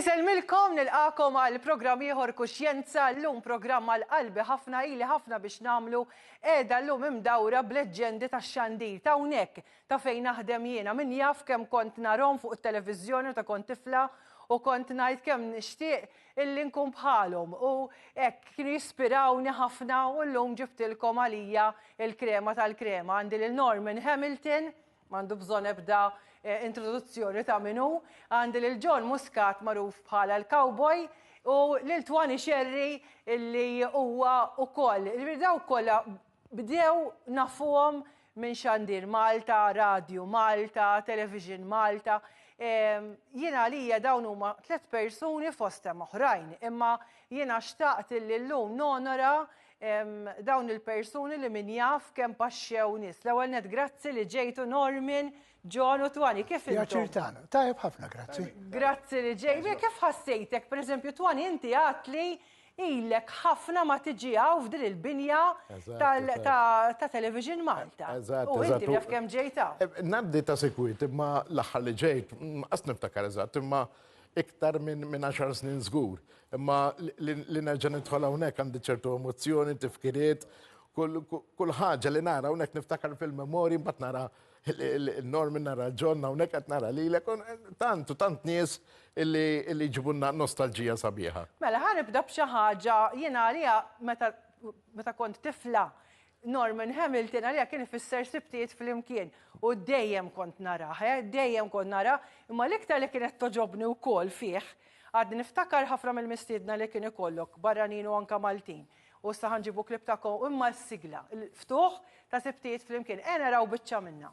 Iselmilkom nilqakom għal programm ieħor kuxjenza llum programm għal qalbi ħafna ili ħafna biex nagħmlu qiegħda llum imdawra bl-leġġendi tax-xandir ta' hawnhekk Ta' fejn naħdem jiena. Min jaf kemm kont narhom fuq it-televiżjoni meta kont tifla u kont ngħid kemm nixtieq illi nkun bħalhom u hekk kienu jispirawni ħafna u llum ġibtilkom għalija l-krema tal-krema. Għandi lil Norman Hamilton, m'għandu bżonn ebda introduzzjoni ta' min hu, għandi lil John Muscat magħruf bħala l-cowboy u lil Twani Xerri illi huwa wkoll, jiġifieri dawk kollha Bdew nafuhom minn Xandir Malta, Radju Malta, Television Malta. Jien għalija dawn huma tliet persuni fost hemm oħrajn, imma jiena xtaqt illi llum nonora dawn il-persuni li min jaf kemm paxxew nies. L-ewwel nett grazzi li ġejtu Normin, John u Twani, kif intom? Pjaċir tagħna. Tajjeb ħafna, grazzi. Grazzi li ġejt. Kif ħassejtek? Pereżempju Twani inti għedtli Ilek ħafna ma tiġi hawn f'din il-binja ta' Television Malta. U inti naf kemm ġejt hawn. Eh, Naddi ta' sikwit, imma l-aħħar li ġejt, qas niftakar eżatt, imma iktar minn 10 snin żgur. Imma li nerġa' nidħol hawnhekk għandi ċertu emozzjoni, tifkiriet, kull ħaġa li nara hawnhekk niftakar fil-memorji mbagħad nara Norman nara ġon hawnhekk qed nara lilek tant u tant nies illi ġibunna nostalġija sabiħa. Mela ħa nibda b'xi ħaġa jiena għalija meta kont tifla Norman Hamilton għalija kien ifisser sibtiet flimkien u dejjem kont narah, eh, dejjem kont narah, imma l-iktar li kienet togħġobni wkoll fih, għad niftakar ħafna mill-mistiedna li kien ikollok barranin u anke Maltin. U issa ħa nġibu klip ta' Cohen mal-sigla, il-ftuħ ta' sibtijiet flimkien. E naraw biċċa minna.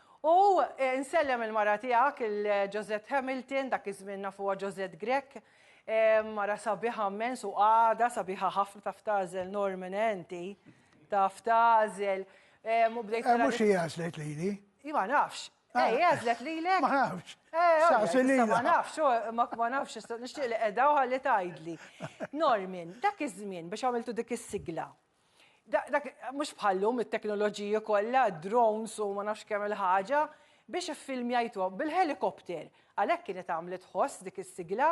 U nsellem il-mara tiegħek, il-Josette Hamilton, dak iż-żmien nafuha Josette Grech, mara sabiħa mmens u għada sabiħa ħafna taf tażel Norman enti. Taf tażel. U bdejt. Eh, mhux hija għażlet lili. Ma nafx. Ah. Ej, għazlet li l-ek. Ma nafx. Eh, ma nafx, ma nafx, nishtiq li edha u għalli tajdli. Normin, dak iż-żmien biex għamiltu dik is-sigla, Mhux bħallum it-teknoloġiji kollha, drones u ma nafx kemm il-ħaġa, biex iffilmjajthom bil-ħelikopter. Għalhekk kienet għamlet ħoss dik is-sigla.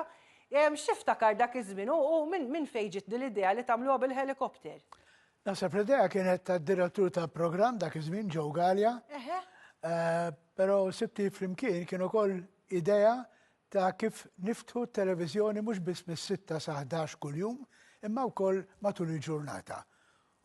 Xi ftakar dak iż-żmien u minn fejn ġiet din l-idea li tagħmluha bil-ħelikopter? Naħseb l-idea kienet tad-direttur tal-programm dak iż-żmien Joe Galea. Però sibti flimkien kien ukoll idea ta' kif niftħu t-televiżjoni mhux biss mis-sitta sa ħdax kuljum, imma wkoll matul il-ġurnata.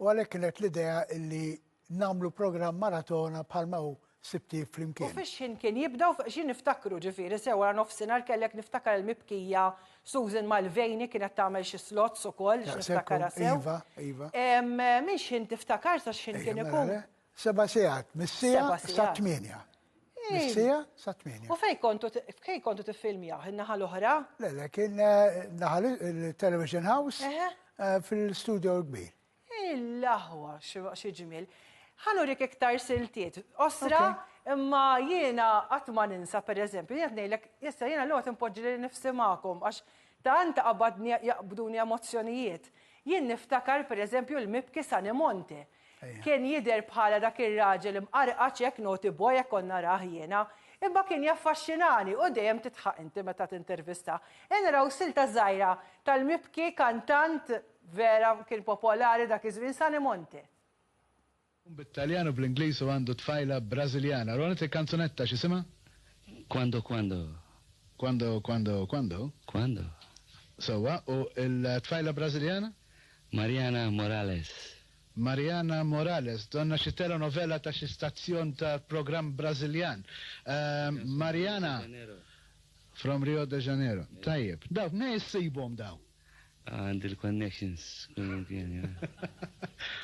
U għalhekk kienet l-idea illi nagħmlu programm maratona bħalma hu Sibt Eve Flimkien. U fix-xħin kien jibda u xi niftakru, ġifieri sew wara nofsinhar kellek niftakar il-mibkija Susan Mulvaney kienet tagħmel xi slots ukoll biex niftakarha sew. Iva, iva. Minn xħin tiftakar sa x'ħin kien ikun? Seba' sigħat, mis-siegħa sa tmienja. Mis-sija sa' tmieni. U fej kontu fej kontu tiffilmjaw in-naħa l-oħra? Le, le, kien eh, naħa il-Television House eh, fil-studio l-kbir. Il-laħwa, xi ġmiel. Ħanu rik iktar siltiet. Osra, imma jiena qatt ma ninsa pereżempju, jien ngħidlek, issa jiena l-għod impoġġi li nifsi magħkom għax tant qabadni jaqbduni emozzjonijiet. Jien niftakar pereżempju l-mibki Sanimonte. Kien jidher bħala dak ir-raġel imqarqaċ hekk naughty boy hekk kont narah jiena. Imma kien jaffaxxinani u dejjem tidħaq inti meta tintervista. Ejja naraw silta żgħira tal-mibki kantant vera kien popolari dak iż-żmien Sunny Monte. Tkun bit-Taljan u bl-Ingliż u għandu tfajla Brażiljana. Ronit il-kanzunetta x'isimha? Quando quando. Quando quando quando. Quando. Sewwa u l-tfajla Brażiljana? Mariana Morales. Mariana Morales, donna xi telenovela ta' xi stazzjon ta' programm Brażiljan. Mariana, from Rio de Janeiro. Tajjeb. Dawk mnejn issibhom dawn? Għandi l-connections kullimkien, yeah.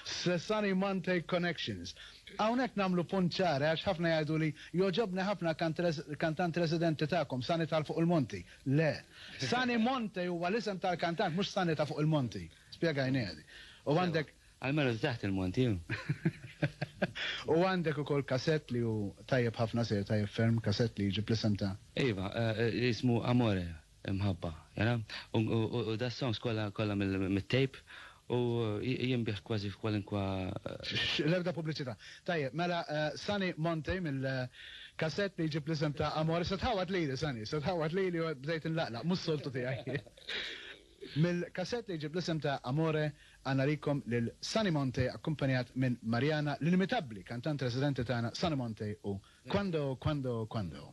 Cesani Monte Connections. Hawnhekk nagħmlu punt ċar għax ħafna jgħiduli jogħġobni ħafna kant kantant residenti tagħkom, Sani t'Għal Fuq il-Monti. Le. Sunny Monte huwa l-isem tal-kantant, mhux Sunny ta' fuq il-monti. Spjegajniha di. U għandek. Almenu ta' taħt il-monti hu. U għandek ukoll kasett li hu tajjeb ħafna, sejjer tajjeb ferm, kasett li jġib l-isem ta'. Iva, jismu Amore, Imħabba, jara? U das-songs kollha kollha mit-tape U jinbiegħ kważi f'kwalunkwe. X'x, l-ebda pubbliċità. Tajjeb, mela Sunny Montey mill-kasett li jġib l-isem ta' Amore. Se tħawwad lili, Sunny, se tħawwad lili, bdejt inlaqlaq, mhux soltu tiegħi. Mill-kasett li jġib l-isem ta' Amore għandna għalikom lil Sunny Montey akkumpanjat minn Mariana, l-inimitabbli kantant residenti tagħna Sunny Montey u Quando, Quando, Quando.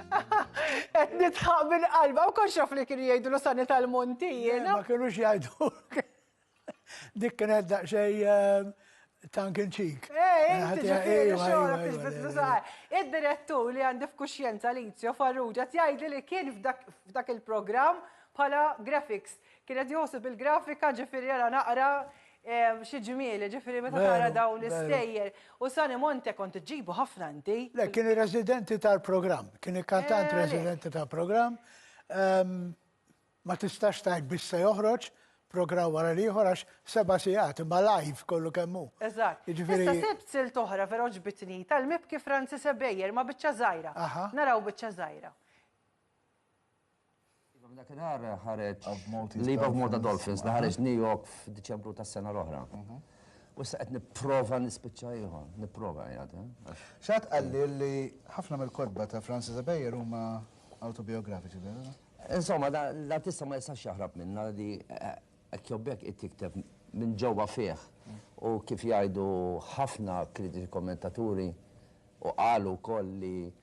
Qed nitħaq minn qalba u konx li kienu jgħidulu sani tal-monti jiena. Ma kienux jgħidu. Dik kienet daqsxejn ehm, tankin ċik. Eh, inti ġifieri xogħolok tiġbidlu saqar. Id-direttur li għandi f'kuxjenza Lizio Farrugia jgħidli li kien f'dak il-programm bħala graphics Kien qed joħsu bil-grafika ġifieri ara naqra xi ġmieli, ġifieri meta tara dawn l-istejjer. U Sani Monte kont iġġibu ħafna inti. Le, kien ir-residenti tal-programm, kien ikkantant residenti tal-programm. Ma tistax tgħid biss se joħroġ programm wara l-ieħor għax seba' sigħat imma live kollu kemm hu. Eżatt. Issa sibt silt oħra vera għoġbitni tal-mibki Francis Ebejer ma' biċċa żgħira. Naraw biċċa żgħira. Iva, minn dakinhar ħareġ Leave of Malta Dolphins li ħareġ New York f'Diċembru tas-sena l-oħra. Mhm. U issa qed nipprova nispiċċa ieħor, nipprova jgħad. Eh? Xat qalli li ħafna mill-kodba ta' Francis Abejer huma autobiografiċi, vera? Insomma, l-artista ma jistax jaħrab minna li ekkjobbek eh, eh, it-tikteb minn ġewwa fih u kif jgħidu ħafna kritiċi kommentaturi u qalu wkoll li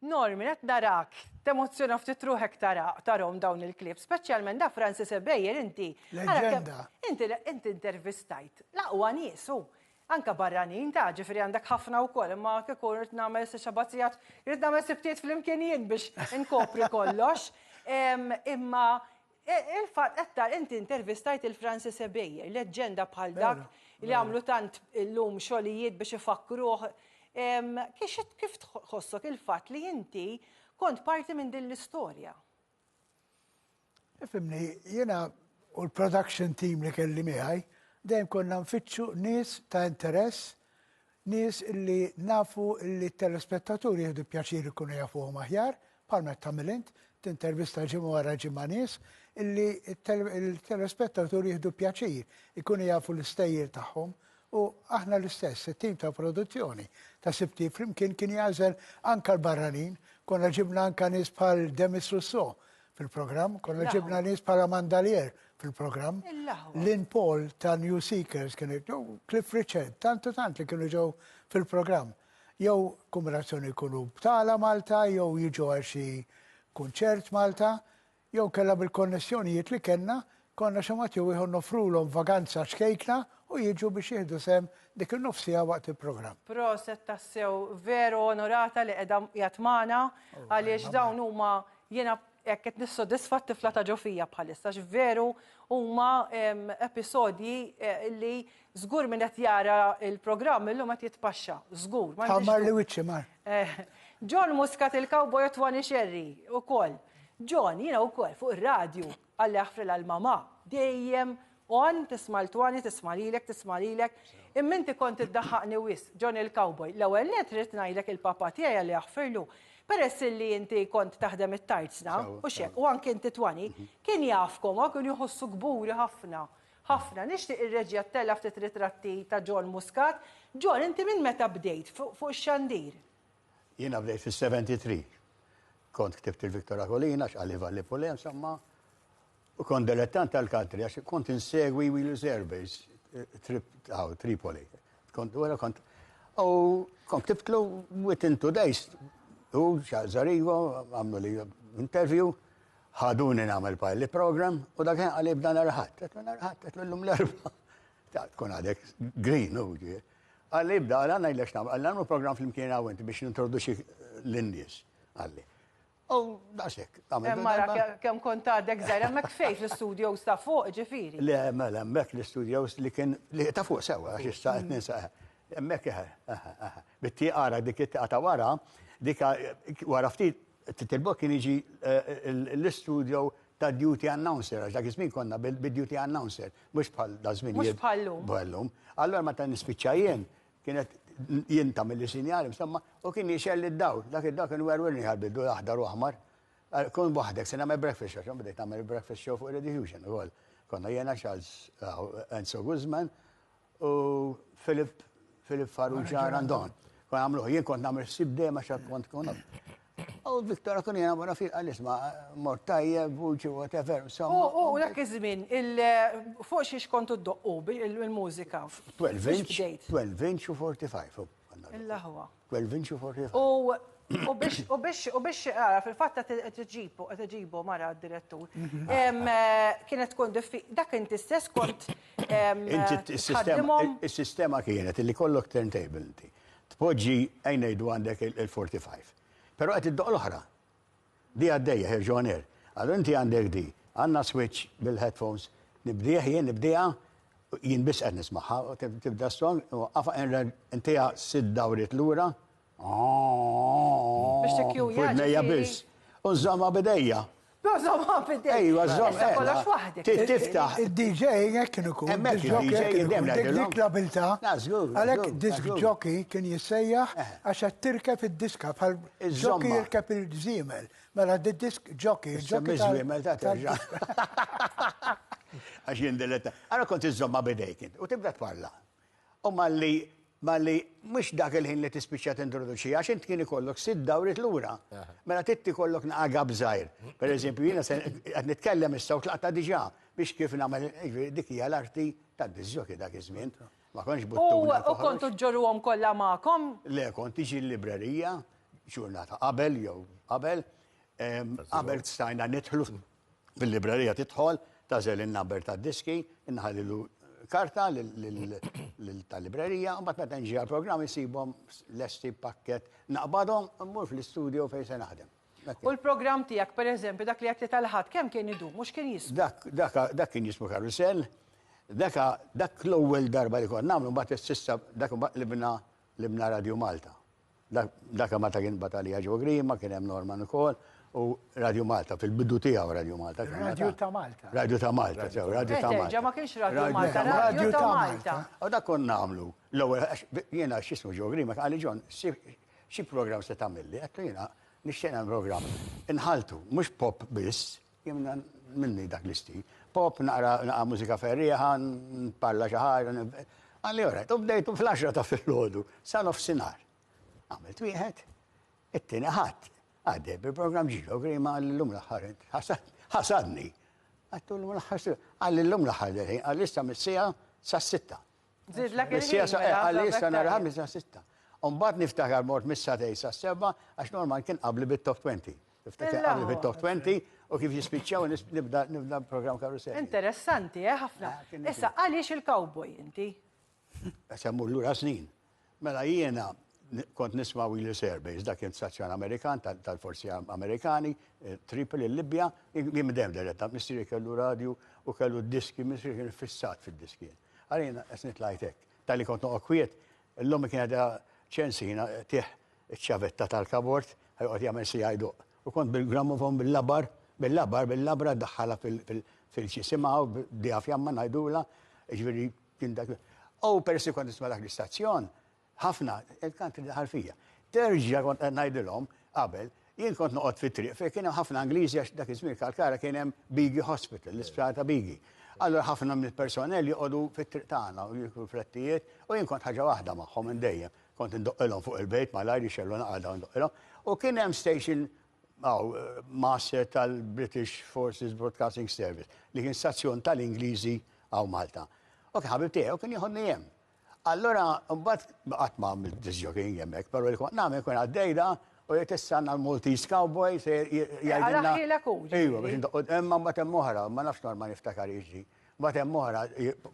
Normin, qed narak temozzjona ftit ruħek tara, tarahom dawn il-clips, speċjalment da Francis Ebejer inti. Leġenda. Inti inti intervistajt l-aqwa nies u anka barranin ta' ġifieri għandek ħafna wkoll, imma kieku rrid nagħmel se xabazzijat, rrid nagħmel sibtiet flimkien jien biex inkopri kollox. Imma Il-fatt qed tara inti intervistajt lil Francis Ebejer, leġġenda bħal dak li għamlu tant illum xogħlijiet biex ifakkruh. Kif tħossok il-fatt li inti kont parti minn din l-istorja? Ifhimni, jiena u l-production team li kelli miegħi dejjem konna nfittxu nies ta' interess Nies li nafu li t-telespettaturi jieħdu pjaċir ikunu jafuhom aħjar, bħalma qed tagħmel int, tintervista ġimgħa wara ġimgħa nies illi t-telespettaturi jieħdu pjaċir ikunu jafu l-istejjer tagħhom u aħna l-istess, it-tim ta' produzzjoni ta' Sibti flimkien kien jagħżel anka l-barranin, konna ġibna anka nies bħal Demis Russo, fil-programm, konna ġibna nies bħala mandalier fil-programm. Lin Paul ta' New Seekers kien ġew Cliff Richard, tantu tant li kienu ġew fil-programm. Jew kombinazzjoni jkunu btala Malta, jew jiġu għal xi kunċert Malta, jew kella bil-konnessjonijiet li kellna Konna xi mod jew ieħor noffrulhom vaganza ċkejkna u jiġu biex jieħdu sehem dik in-nofs siegħa waqt il-programm. Proset tassew veru onorata li qeda qiegħed magħna għaliex dawn huma jiena hekk qed nissodisfa t-tifla ta' ġo fija bħalissa għax veru huma episodji li żgur min qed jara l-programm illum qed jitpaxxa żgur. Bħal mar li wiċċi mar. John Muscat il-cowboy u Twani Xerri ukoll. John jiena wkoll fuq ir-radju Alla jaħfrilha l-mamà. Dejjem Għan, tisma' l-twani, tisma' lilek, tisma' lilek. Imma inti kont iddaħħaqni wisq, John il-cowboy. L-ewwel nett rrid ngħidlek il-papà tiegħi Alla jaħfirlu, peress illi inti kont taħdem it-tarzna, u x'hekk, u anke inti twani, kien jafkom, hawn kienu jħossu kburi ħafna. Ħafna. Nixtieq ir-reġija ttella' ftit ritratti ta' John Muscat. John, inti minn meta bdejt fuq ix-xandir? Jiena bdejt fis-73. Kont ktibt il-Victor Akolina, x'qali Valli Pulem, samma, u kont dilettant tal-country, għax kont insegwi Wheel Surveys, Tripoli. Kont għara kont. U kont ktibtlu within two days, u xażarigo, għamlu li interview, ħaduni namel pilot program, u dak għalli b'dan arħat, għetlu arħat, għetlu l-lum l-erba. Tkun għadek green, u ġie. Qal li ibda, qal ngħidlek x'nagħmel, qal li nagħmlu programm flimkien hawn inti biex nintroduċik lin-nies, qal li. U daqshekk. Mara kemm kont għadek żgħir hemmhekk fejn fl-istudios ta' fuq ġifieri. Le, mela hemmhekk l-istudios li kien li ta' fuq sewwa għax issa qed ninsa. Hemmhekk eħe, eħe, eħe. Bit-tieqa ara dik it-tieqa ta' wara, dik wara ftit Titilbok kien jiġi l-istudio ta' duty announcer, għax dak iż-żmien konna bil-duty announcer, mhux bħal daż-żmien. Mhux bħal llum. Bħal llum. Allura meta nispiċċa jien, kienet jien tagħmilli sinjal, insomma, u kien jixgħel id-dawl. Dak id-dawl kien werwirni ħa l-bidu aħdar u aħmar. Kun waħdek, se nagħmel breakfast show, x'għan bdejt nagħmel breakfast show fuq Radio Fusion ukoll. Konna jiena Charles Enzo Guzman u Philip Philip Farrugia Randon. Kon għamluħ, jien kont namel sib dejjem għax kont kon. U Viktora kun jena wara fil għalis ma mort tajjeb, vuċi, whatever. U dak iż-żmien, fuq xiex kontu d-doqqu il-mużika? 12 inch, 12 inch u 45. Il-laħwa. U biex, u biex, u biex, għara, fil-fat ta' t-ġibu, t-ġibu mara direttur. Mhm. Kienet tkun diffi, dak inti stess kont. Il-sistema kienet li kollok turntable inti. Tpoġġi għajnejdu għandek il-45. Pero għet id-doq l-oħra. Di għaddejja ħerġu on air. Allura inti għandek di, għandna switch bil-headphones, nibdieh jien, nibdieha, jien biss qed nismagħha, tibda s-song, inwaqqafha, intiha sitt dawriet lura, Biex tikkjuja. F'widnejja biss. U nżommha b'idejja. Nżommha b'idejja. Ejwa, żomm. Issa kollox waħdek. Tiftaħ. Id-DJ hekk kien ikun. Hemmhekk id-DJ dejjem ngħidilhom. Dik l-abiltà. Għalhekk disk jockey kien jissejjaħ għax qed tirkeb id-diska bħal Ġokki jirkeb il-żiemel. Mela d-disk ġokki. Ġokki żiemel ta' terġa. Għax jien diletta. Għara kont iżomma bidejk u tibda tparla. U malli malli mhux dak il-ħin li tispiċċa tintroduċi għax int kien ikollok sitt dawrit lura. Mela titti kollok naqaga bżajr. Per eżempju, jiena se qed nitkellem issa u tlaqta diġà biex kif nagħmel dik hija l-arti tad-diżjoki dak iż-żmien. Ma kontx buttuni. U kontu ġġorruhom kollha magħkom? Le, kont tiġi l-librerija ġurnata qabel jew qabel. Qabel stajna nidħlu fil-librerija tidħol, tażel in-number tad-diski, inħallilu karta tal-librerija, mbagħad meta nġi għall-programm isibhom lesti pakket naqbadhom mmur fl-istudio fejn se naħdem. U l-programm tiegħek, per eżempju, dak li għedt li tal-Ħadd, kemm kien idum u x'kien jiswa? Dak, dak, dak kien jismu karusell. Dak, dak l-ewwel darba li kont nagħmlu mbagħad is-sissa dak mbagħad libna libna Radio Malta. Dak, dak Malta kien batalija ġo Grima, kien hemm Norman ukoll, u Radio Malta, fil-bidu tiegħu Radio Malta. Radio ta' Malta. Radio ta' Malta, sew, Radio ta' Malta. ma kienx Radio Malta, Radio ta' Malta. U dak kont nagħmlu. L-ewwel, jiena x'ismu ġo Grima, għalli ġon, Xi programm se tagħmilli? Qed jiena nixtieq nagħmel programm. Inħaltu, mhux pop biss, jemna minni dak l-istil. Pop naqra naqra mużika ferriħa, parla xi ħaġa. Għalli orajt, u bdejtu fl-10 ta' fil-ħodu, sa nofsinhar. Għamilt wieħed, it-tieni ħadd, għaddej bil-programm ġilo grima l-lum l-aħħar ħasadni. Għattu l-lum l-aħħar għalli l-lum l-aħħar għalli issa mis-sija sa' sitta. Zidlek il-ħin. Għalli issa nhar ħamis sa' sitta. Umbat niftakar mort missa tej sa' seba għax normal kien qabli bit-top 20. Niftakar qabli bit-top 20 u kif jispiċċaw nibda nibda program karusell. Interessanti, eh, ħafna. Issa għaliex il-cowboy inti? Għax għammur l-ura snin. Mela jiena kont nisma' Wheeler's Air Base, dak kien stazzjon Amerikan tal-forzi Amerikani, Tripoli, il-Libja, jien midem diretta, missieri kellu radju u kellu d-diski, missieri kien fissat fid-diski. Ara jiena qed nitlajt hekk. Talli kont noqgħod kwiet, l-ommi kienet qiegħda ċensina tih iċ-ċavetta tal-kabord, ħa joqgħod jagħmel siegħa jdoqq. U kont bil-gramofon bil-labar, bil-labar, bil-labra ddaħħalha fil-ġisimha u bdejha fjamma ngħidulha, jiġifieri Kien dak u persi kont nisma' dak l-istazzjon, ħafna, il-country daħal fija. Terġa' kont qed ngħidilhom qabel, jien kont noqgħod fit-triq fejn kien hemm ħafna Ingliżi għax dak iż-żmien Kalkara kien hemm Bigi Hospital, l-isptar ta' Bigi. Allura ħafna mill-personell joqogħdu fit-triq tagħna u jiklu frettijiet u jien kont ħaġa waħda magħhom minn dejjem. Kont indoqqilhom fuq il-bejt malajr jixgħellu naqgħadha u ndoqqilhom. U kien hemm station Aw, Master tal-British Forces Broadcasting Service, li kien stazzjon tal-Ingliżi hawn Malta. U kien ħabib tiegħi u kien jieħodni hemm. Allura, mbagħad qatt ma għamilt disjoking hemmhekk, però li kont nagħmel kien għaddejda u jgħid issa għandna l-Maltese Cowboy se jgħidilna. Għalaħħilek hu. Ejwa, biex indoqqod hemm mbagħad hemm oħra, ma nafx norma niftakar jiġri. Mbagħad hemm oħra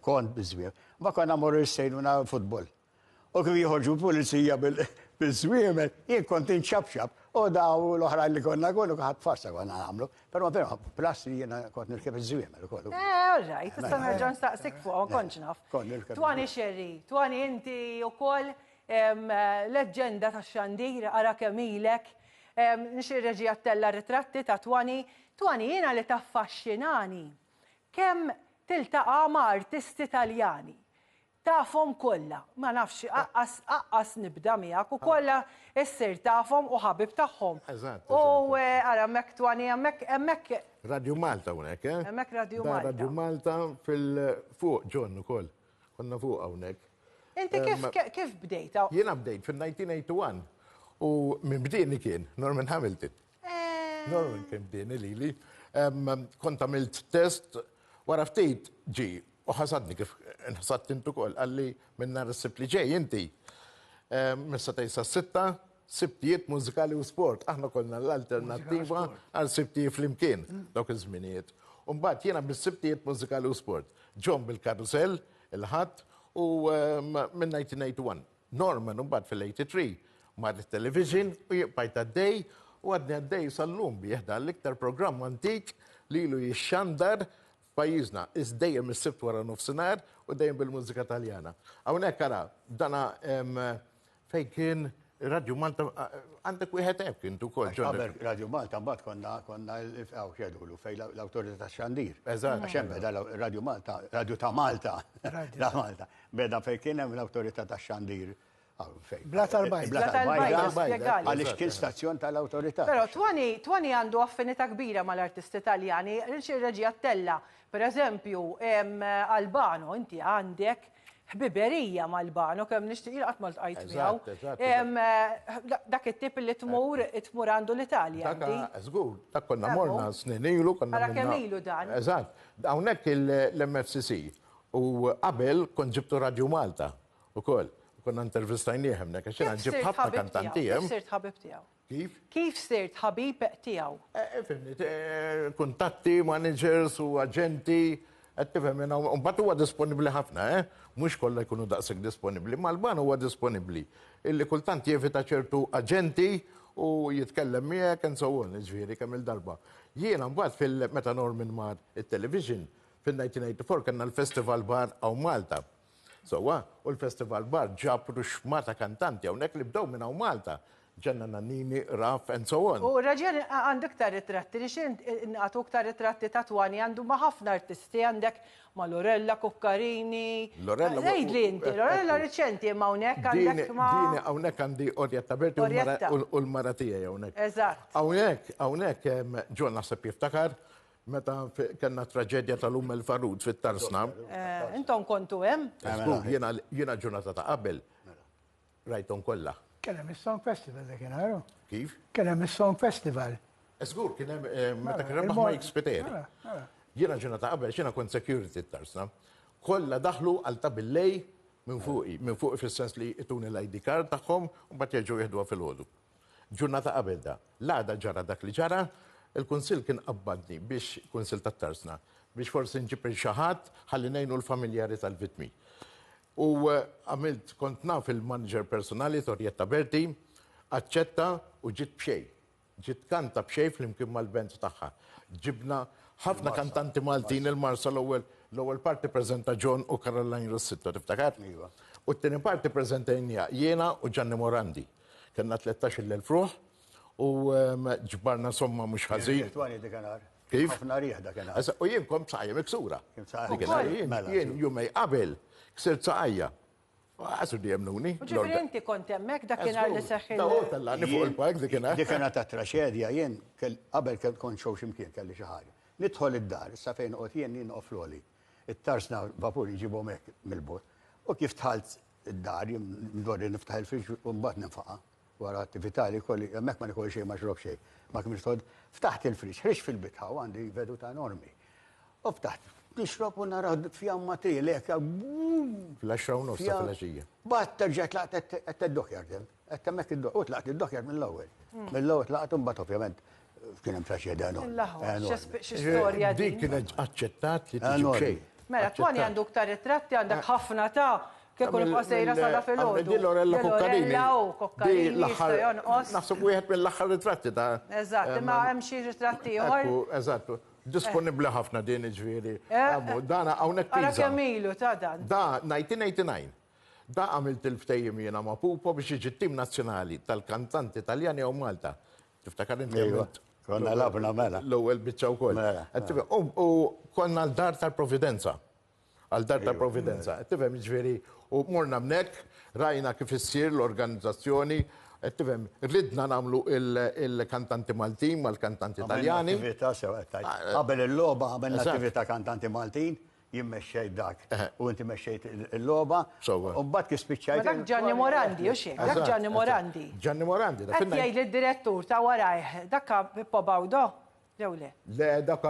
kont biżwieħ. Mbagħad konna mmorru l-sejluna futbol. U kif joħorġu l-pulizija bil-żwiemel, jien kont inċapċap, u daw l-oħrajn li konna kollu ħadd farsa konna nagħmlu. Però però plus li jiena kont nirkeb iż-żwiemel ukoll. Eh, all right, tista' mela, nerġa' nistaqsik fuqhom kontx naf. Twani xerri, twani inti ukoll leġġenda ta' xandir ara kemm ilek. Nixir reġi għattella ritratti ta' twani, twani jiena li taffaxxinani. Kemm tiltaqa' ma' artisti Taljani. Tafhom kollha, ma nafx, aqqas nibda miegħek, u kollha ssir tafhom u ħabib tagħhom. Eżatt. U ara hemmhekk twani, hemmhekk, hemmhekk. Radio Malta hawnhekk, eh? Hemmhekk Radio Malta. Da Radio Malta fil-fuq John ukoll. Konna fuq hawnhekk. Inti kif kif bdejta? Jiena bdejt fin-1981 u minn bdieni kien Norman Hamilton. Norman kien bdieni lili. Kont għamilt test, wara ftit ġi, u ħasadni kif nħasad tintu kol, għalli minn nar s-sibt li ġej inti. Missa tejsa s-sitta, sibtijiet mużikali u sport. Aħna konna l-alternativa għal sibtijiet fl-imkien, dawk iż-żminijiet. Umbat jena bis-sibtijiet mużikali u sport. Ġon bil-karusel, il-ħat, u minn 1981. Norman imbagħad fil-83 mar lit-television u jien bqajt għaddej u għadni għaddej sal-lum bih, dan l-iktar programm antik li ilu jixxandar f'pajjiżna, is dejjem is-Sibt wara nofsinhar u dejjem bil-mużika Taljana. Hawnhekk ara, dana fejn kien Radju Malta, għandek wieħed hekk int ukoll. Qabel Radju Malta mbagħad konna konna hawn x'għedulu fejn l-Awtorità tax-Xandir. Eżatt. Għax hemm beda Radju Malta, Radju ta' Malta. Ta' Malta. Beda fejn kien hemm l-Awtorità tax-Xandir fejn. Blat tal-Bajda. Blat tal-Bajda, spjegali. Għaliex kien stazzjon tal-Awtorità. Però Twani, Twani għandu affinità kbira mal-artisti Taljani, ir-reġija Tella, per eżempju, Albano, inti għandek ħbiberija ma' Albano, kemm nixtieq, jiena qatt ma ltqajt miegħu. Eżatt, eżatt. Dak it-tip li tmur, tmur għandu l-Italja inti. Dak, żgur, dak konna morna snin ilu, konna. Ara kemm ilu dan. Eżatt. Hawnhekk il-MFCC. U qabel kont ġibtu Radju Malta ukoll. Konna intervistajnieh hemmnek għax jiena ġibt ħafna kantanti hemm. Kif sirt ħabib tiegħu? Kif? Kif sirt ħabib tiegħu? Fimni, kuntatti, managers u aġenti, qed tifhem jiena. U mbagħad huwa disponibbli ħafna, eh? Mhux kollha jkunu daqshekk disponibbli. Mal-ban huwa disponibbli. Illi kultant jevita ċertu aġenti u jitkellem miegħek and so on, jiġifieri kemm-il darba. Jiena mbagħad fil-meta Norman mar it-television, Fil-1984 kellna l-Festival Bar hawn Malta. Sewwa, u l-Festival Bar ġab ruxma ta' kantanti hawnhekk li bdew minn hawn Malta. Ġenna Nannini, Raf and so on. U raġel għandu iktar ritratti li xi ngħatu iktar ritratti ta' Twani għandu ma' ħafna artisti għandek ma' Lorella, Cuccarini. Lorella. Għidli inti, Lorella riċenti imma hawnhekk għandek ma'. Dini hawnhekk għandi Orietta Berti u l-mara tiegħi hawnhekk. Eżatt. Hawnhekk, hawnhekk hemm John naħseb jiftakar, Meta kellna traġedja tal-um il-farud fit-tarsna. Eh, intom kontu hemm? Jiena ġurnata ta' qabel rajtom kollha. Kien hemm is-Song Festival dak inharu. Kif? Kien hemm is-Song Festival. Żgur kien hemm eh, meta kien hemm ma jikspeter. Jiena ġuna ta' qabel xina kont security tarsna. Kollha daħlu għal ta' billej minn fuqi, minn fuqi fis-sens li jituni l-ID card tagħhom u mbagħad jerġgħu jieħduha fil-ħodu. Ġurnata qabel da, l-għada ġara dak li ġara, il-Kunsill kien qabbadni biex, Kunsill tat-Tarsna, biex forsi nġib il xi ħadd ħalli ngħinu l-familjari tal-vittmi. U għamilt, kont naf il-manager personali Torjetta Berti, aċċetta u ġiet b'xejn. Ġiet tkanta b'xejn flimkien mal-band tagħha. Ġibna ħafna kantanti Maltin il-Marsa l-ewwel l-ewwel parti preżenta John u Caroline Rossitto, tiftakar? Iva. U t-tieni parti preżentajniha jiena u Ġanni Morandi. Kellna 13-il elf ruħ u ehm, ġbarna somma mhux ħażin. Twani dik nhar. Kif? Ħafna rieħ dak nhar. Issa, U jien kont b'saqajja miksura. Kien b'saqajja Dik il-ħar miksura, jien- mela, Jien ġu. jumej qabel ksirt saqajja. Għasu di jemnuni. U ġifiri inti kont hemmhekk dak kien li seħħi. Daw tellani fuq il-park dik il-ħar. Dik kienet ta' traċedja jien kell- qabel kell kont xew ximkien kelli xi ħaġa. Nidħol id-dar, issa fejn qod jien jien noqgħod floli. It-tarsna vapur jġibhom hekk mill-bot. U kif tħalt id-dar, jien ndorri niftaħ il-friġġ u mbagħad ninfaqa' wara attività li jkolli, hemmhekk ma nikol xejn ma nixrob xejn. Ma kemm nistgħod, ftaħt il-friġġ, ħriġt fil-bitħa u għandi veduta enormi. U ftaħt, nixrob u nara fjamma trilek. Fl-10 u nofs ta' filgħaxija. Bat terġa' tlaqt qed teddok jardem. Qed hemmhekk id-dok, hu tlaqt id-dok jgħid mill-ewwel. Mill-ewwel tlaqt u mbagħad ovvjament kien hemm sa xejn għenu. Storja dik kienet aċċettat li tiġi xejn. Mela, Twani għandu ktar ritratti għandek ħafna ta' kif kont qasejra sada fil-ħodu. Di Lorella Kokkarini. Di l-aħħar. Naħseb wieħed mill-aħħar ritratti ta'. Eżatt, imma hemm xi ritratti ieħor. Eżatt, disponibbli ħafna din iġifieri. Dana hawnhekk. Ara kemm ilu ta' dan. Da 1989. Da għamilt il-ftehim jiena ma' Pupo biex jiġi t-tim nazzjonali tal-kantanti Taljani hawn Malta. Tiftakar inti għamilt. Konna labna mela. L-ewwel biċċa wkoll. Mela. Qed tifhem. U u konna għal Dar tal-Providenza. Għal Dar tal-Providenza. Qed tifhem jiġifieri u morna hemmhekk, rajna kif issir l-organizzazzjoni, qed tifhem, ridna nagħmlu il-kantanti Maltin mal-kantanti Taljani. Għamilna attività sew qed tgħid. Qabel il-logħba għamilna attività kantanti Maltin. Jien mexxejt dak u inti mexxejt il-logħba. Sewwa. U mbagħad kif Ma spiċċajt. dak Ġanni Morandi, u x'hekk, dak Ġanni Morandi. Ġanni Morandi, dak Qed in-nine- jgħid li d-direttur ta' warajh, dak Pippo Baudo, jew le? Le, dak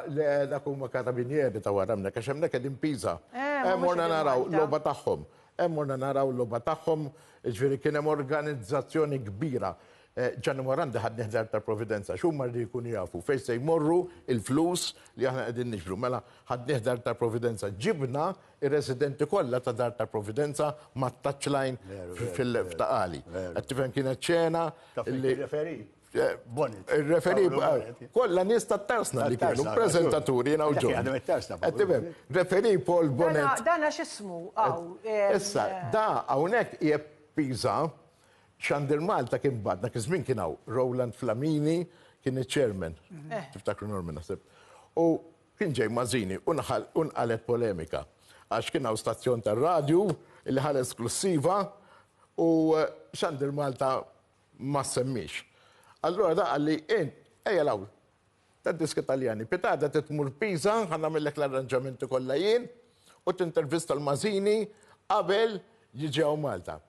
le, dak huma karabinieri ta' wara hemmhekk, għax hemmhekk qegħdin Pisa. Eh, ma Hemm mhux morna qegħdin naraw Malta. logħba tagħhom. Hemm morna naraw logħba tagħhom, jiġifieri kien hemm organizzazzjoni kbira Eh, Gianni Morandi ħadni ħdar tal-Providenza, xumma li jkunu jafu, fejn se jmorru il-flus li aħna qegħdin niġbru. Mela ħadni ħdar tal-Providenza, ġibna ir-residenti kollha ta' dar tal-Providenza ma' touchline fil-ftaqali. Għattifem kienet ċena. Il-referi? Eh, Bonnet. Il-referi, eh, kolla nis ta' tarsna li kienu, prezentaturi jina uġu. Għattifem, referi Paul Bonnet. Dana xismu, għaw. Issa, da, għawnek jeppiza, Xandir Malta kien mbagħad, dak iż-żmien kien hawn Rowland Flamini kien iċ-chairman, tiftakru Norman naħseb, u kien ġej Mazzini u nqalgħet polemika għax kien hawn stazzjon tar-radju li ħa l-esklussiva u Xandir Malta ma ssemmiex. Allura dak qal li int ejja 'l hawn tad-diski Taljani, pitgħada trid tmur Pisa ħa nagħmillek l-arranġamenti kollha jien u tintervista 'l Mazzini qabel jiġi hawn Malta.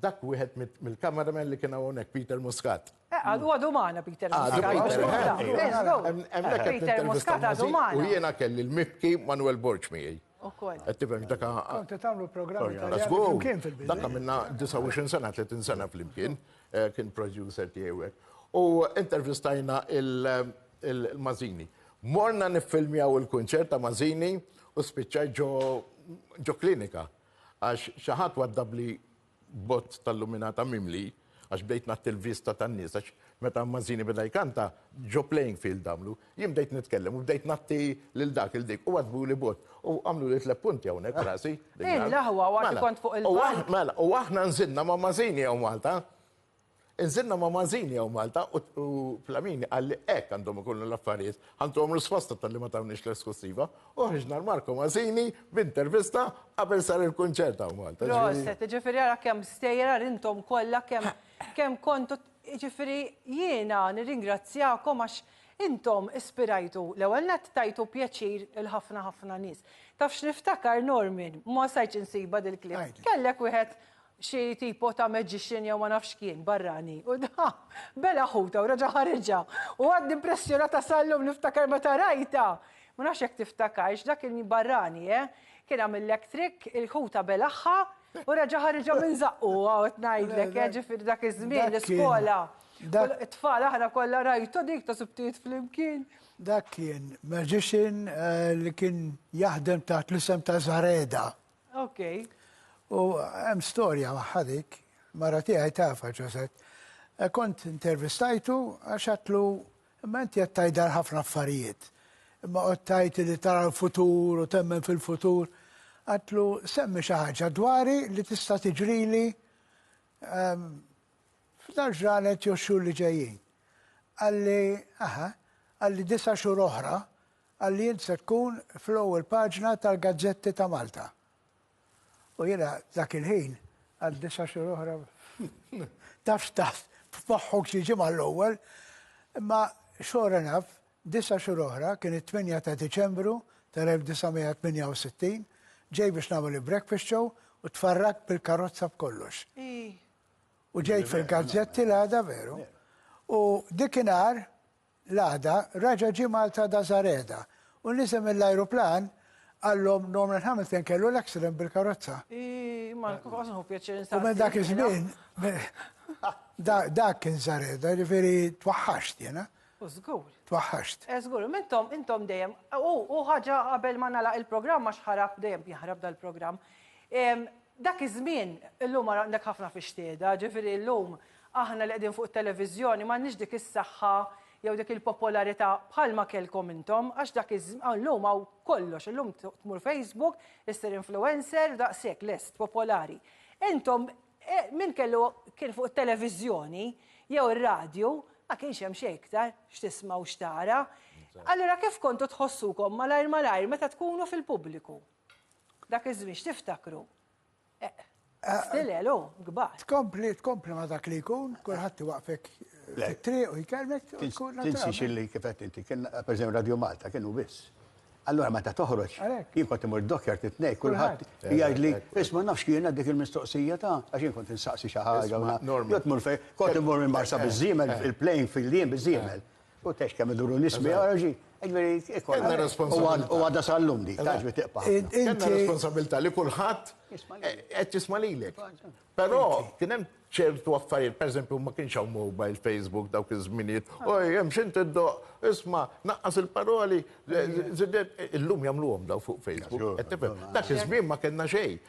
Dak wieħed mill-cameraman li kien hawnhekk Peter Muscat. Eh, għadu għadu maħna Peter Muscat. Peter Muscat għadu maħna. U jiena kelli l-mibki Manuel Borg miegħi. Għattifem, daka. Konti tamlu programmi ta' għazgu. Daka minna 29 sena, 30 sena fl-imkien, eh, kien producer tiegħek. U intervistajna il-Mazini. Morna niffilmjaw il-kunċert ta' Mazini u spiċċaj ġo klinika. Għax xi ħadd waddabli bott tal-luminata mimli, għax bdejt ngħatti l-vista tan-nies, għax meta Mazzini beda jkanta, ġo playing field għamlu, jien bdejt nitkellem u bdejt ngħatti lil dak, lil dik, u waddbuli bott, u għamluli tliet punti hawnhekk f'rasi. Din l-aħwa, u għad kont fuq il-palk. Mela, u aħna nżilna ma' Mazzini hawn Malta. Inżilna ma' Mażini jew Malta u Flamini qal li hekk għandhom ikunu l-affarijiet. Ħantuhom risposta tal-li ma tawniex l-eskussiva u ħriġna l-Marco Mażini b'intervista qabel sar il-kunċert hawn Malta. Proset, jiġifieri ara kemm stejjer intom kollha kemm kemm kontu jiġifieri jiena nirringrazzjakom għax intom ispirajtu l-ewwel nett tajtu pjaċir lil ħafna ħafna nies. Taf x'niftakar Norman, ma stajtx insibha dil-clip. Kellek wieħed xi tipo ta' magician jew ma nafx kien barrani u da bela ħuta u raġa' ħariġha u għadni impressjonata sal-lum niftakar meta rajtha. Ma nafx jekk tiftakarx dak il-barrani eh kien għamillek trikk il-ħuta belagħha u raġa' ħariġha minn żaqqu qed ngħidlek eh ġifieri dak iż-żmien l-iskola it-tfal aħna kollha rajtu dik ta' subtijiet flimkien. Dak kien magician li kien jaħdem taħt l-isem ta' Zareda. Ok. U hemm storja magħha dik, mara tiegħi tafha ġożet. E, kont intervistajtu għax għatlu imma inti qed tgħidha ħafna affarijiet. Imma qod tgħid li tara l-futur u temmen fil-futur. Għatlu semmi xi ħaġa dwari li tista' tiġrili ehm, f'dar ġranet jew xhur li ġejjin. Għalli, aha, għalli disa xhur oħra Qal li int se tkun fl-ewwel paġna tal-gazzetti ta' Malta. U jiena dak il-ħin għal disa' xhur oħra taf x'taħt f'moħħok xi ġimgħa għall-ewwel. Imma sure enough, disa' xhur oħra, kien it-tmienja ta' Diċembru tal-1968, ġej biex nagħmel il-breakfast show u tfarragt bil-karozza b'kollox. U ġejt fil-gazzetti l-għada veru. U dik inhar, L-għada raġa' ġie Malta Dazareda u niżel mill-ajruplan qallhom Norman Hamilton kellu l-accident bil-karozza. U minn dak iż-żmien dak kien Zareda, jiġifieri twaħħaxt jiena. U żgur. Twaħħaxt. Eh żgur, imma intom intom dejjem u ħaġa qabel ma nagħlaq il-programm għax ħarab dejjem jaħrab dal-programm. Dak iż-żmien illum għandek ħafna fix-xtieda, jiġifieri llum Aħna li qegħdin fuq it-televiżjoni m'għandniex dik is-saħħa jew dik il-popolarità bħalma kellkom intom għax dak iż illum hawn kollox, illum tmur Facebook, issir influencer, daqshekk lest, popolari. Intom min kellu kien fuq it-televiżjoni jew ir-radju ma kienx hemm xejn iktar x'tisma' u x'tara. Allura kif kontu tħossukom malajr malajr meta tkunu fil-pubbliku? Dak iż-żmien x'tiftakru? Still hello, gbar. Tkompli, tkompli ma dak li jkun, kulħadd iwaqfek fit-triq u jkellmek. Tinsi xilli kifet inti, kien per Radio Malta kienu biss. Allora meta toħroġ, jien kont imur d-dokjar titnej, kulħadd jgħidli, isma' nafx kien għad dik il-mistoqsija ta' għax jien kont insaqsi xi ħaġa. Jgħid mur fejn, kont imur minn Marsa biż-żiemel, il-plane fil-jiem biż-żiemel. U tex kemm iduru nies biha raġi. Kellna responsabilità. U għadha sal-lum di, tax bi tiqpa'. Kellna responsabilità li kulħadd qed jisma' lilek. Però kien hemm ċertu affarijiet, pereżempju ma kienx hawn mobile, Facebook dawk iż-żminijiet. Oj, hemm xi tiddoq, isma' naqqas il-paroli, illum jagħmluhom dawn fuq Facebook. Dak iż-żmien ma kellna xejn.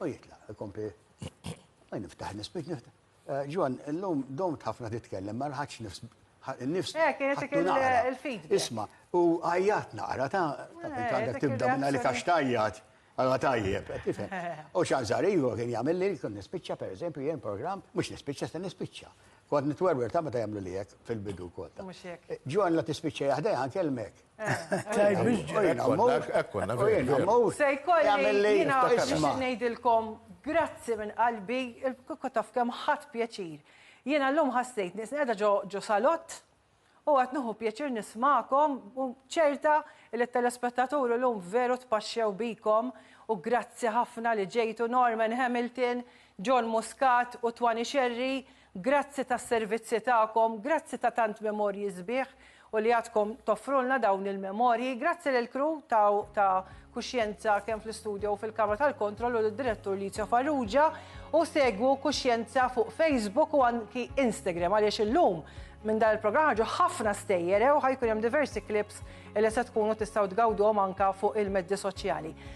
U jitlaq, ikompli. Għaj niftaħ nispit niftaħ. Eh, Ġwan, l-lum domt ħafna titkellem, ma rħaċ nifs. Nifs. Eh, kienet dik il-feed. Isma, u għajjat naqra ta' eh, għandek tibda minna li kax tajjat. Għalla tajjeb, tifem. U xanżar, iva kien jgħamil li kun nispicċa, per eżempju, jgħin program, mux nispicċa, sta nispicċa. Kont nitwerwer ta' meta jgħamlu li jek fil-bidu kota. Ġwan la tispicċa jahda jgħan kelmek. Grazzi minn qalbi, kieku taf kemm ħadt pjaċir. Jiena llum ħassejtni qisni qiegħda ġo salott u qed nieħu pjaċir nismagħkom u ċerta li t-telespettaturi llum veru tpaxxew bikom u grazzi ħafna li ġejtu Norman Hamilton, John Muscat u Twanny Scerri Grazzi tas-servizzi tagħkom, grazzi ta' tant memorji sbieħ u li għadkom toffrulna dawn il-memorji. Grazzi lill-crew ta' Kuxjenza kemm fl-istudio u fil-kamra tal-kontroll u lid-Direttur Licio Farrugia u segwu Kuxjenza fuq Facebook u anki Instagram għaliex illum minn dan il-programm ħarġu ħafna stejjer u ħajkun hemm diversi clips li se tkunu tistgħu tgawduhom anke fuq il-medji soċjali.